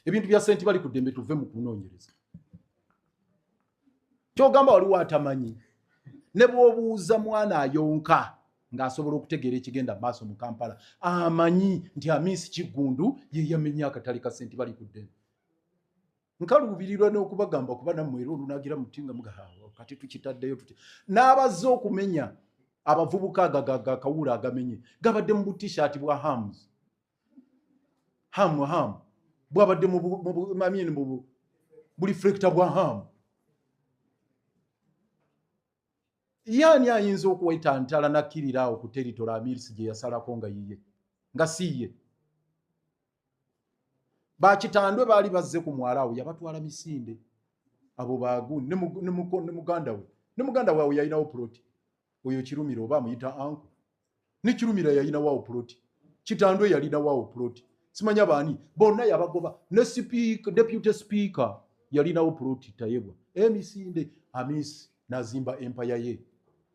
ebintu bya senti bali ku ddembe tuve mu kunoonyereza kyogamba waliwo atamanyi ne bwobuuza mwana ayonka ng'asobola okutegeera ekigenda mu maaso mu kampala amanyi nti amiisi kiggundu ye yamenya akatale ka senti bali ku ddembe nkaluubirirwa n'okubagamba kuba nammwe era olunagira muti nga mugahawa kati tukitaddeyo tuti n'abazze okumenya abavubuka agagakawuula agamenye gabadde mu butishaati bwa hams hamu hamu bwabadde mumamini mubu buli frekita bwa hamu yaani ayinza okuwaita ntala nakkirira awo ku teritola amirisi gye yasalako nga yiye nga siiye bakitandwe baali bazze ku mwala awo yabatwala misinde abo bagu ne muganda we ne muganda we awo yalinawo puloti oyo kirumira oba amuyita anku ne kirumira yalina wawo plot kitandwe yalina wawo plot simanya bani bonna yabagoba ne speaker deputy speaker yalinawo plot tayebwa emisinde amisi nazimba empire ye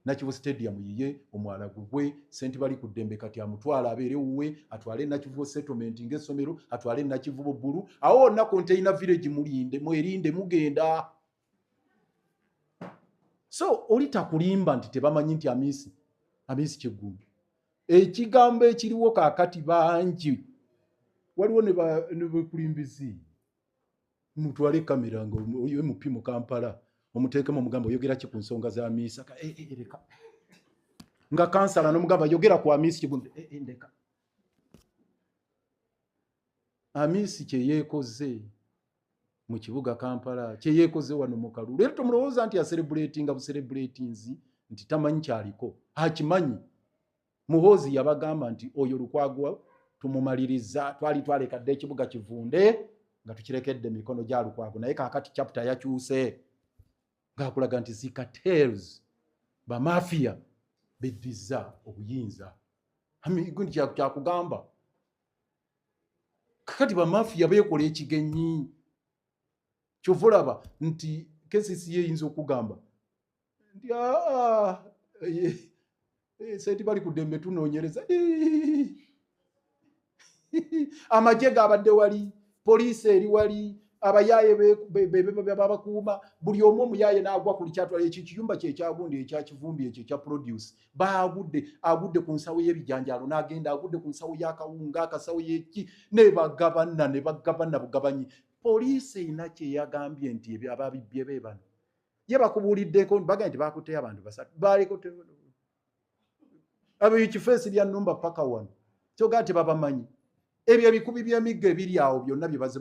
nakivu stadium yiye omwala gugwe senti bali ku dembe kati amutwala abere uwe atwale nakivu settlement nge somero atwale nakivu bulu awo na container village mulinde mwerinde mugenda so oli takulimba nti tebamanyi nti amiisi amiisi kyeggumbi ekigambo ekiriwo kakati bangi waliwo nebekulimbizi mutwale kamera nga oyo mp mu kampala omuteekemu omugamba oyogera ki ku nsonga za miisa eh, eh, eh, leka nga kansala nomugamba yogera ku amiisi kigumbi ndeka amiisi kyeyeekoze mu kibuga kampala kyeyekoze wano mukalu leero tomulowooza nti aserebuletinga buserebuletinzi nti tamanyi kyaliko akimanyi muhoozi yabagamba nti oyo lukwagwa tumumaliriza twali twaleka dda ekibuga kivunde nga tukirekedde mikono gya lukwago naye kakati chapta yakyuse ngaakulaga nti zikatels bamafiya beddiza obuyinza kyakugamba kakati bamafiya bekola ekigenyi kyova olaba nti kesisi yeyinza okugamba nti ah, ah, eh, eh, senti bali ku dembe tunonyereza amagye gabadde wali poliisi eri wali abayaaye bebabakuuma buli omu omuyaaye n'agwa ku likyatwala ekyo ekiyumba kyekyagundi ekyakivumbi ekyo ekya produce baagudde agudde ku nsawo y'ebijanjaalo n'agenda agudde ku nsawo y'akawunga akasawo y'eki ne bagabana ne bagabana bugabanyi poliisi erina kyeyagambye nti ebyo ababibbye be bano ye bakubuuliddeko bagambye nti baakutteyo abantu basatu baaliko abo ekifeesi lya numba paka wano kyogaa tebabamanyi ebyo ebikubi by'emigga ebiri awo byonna bye baziba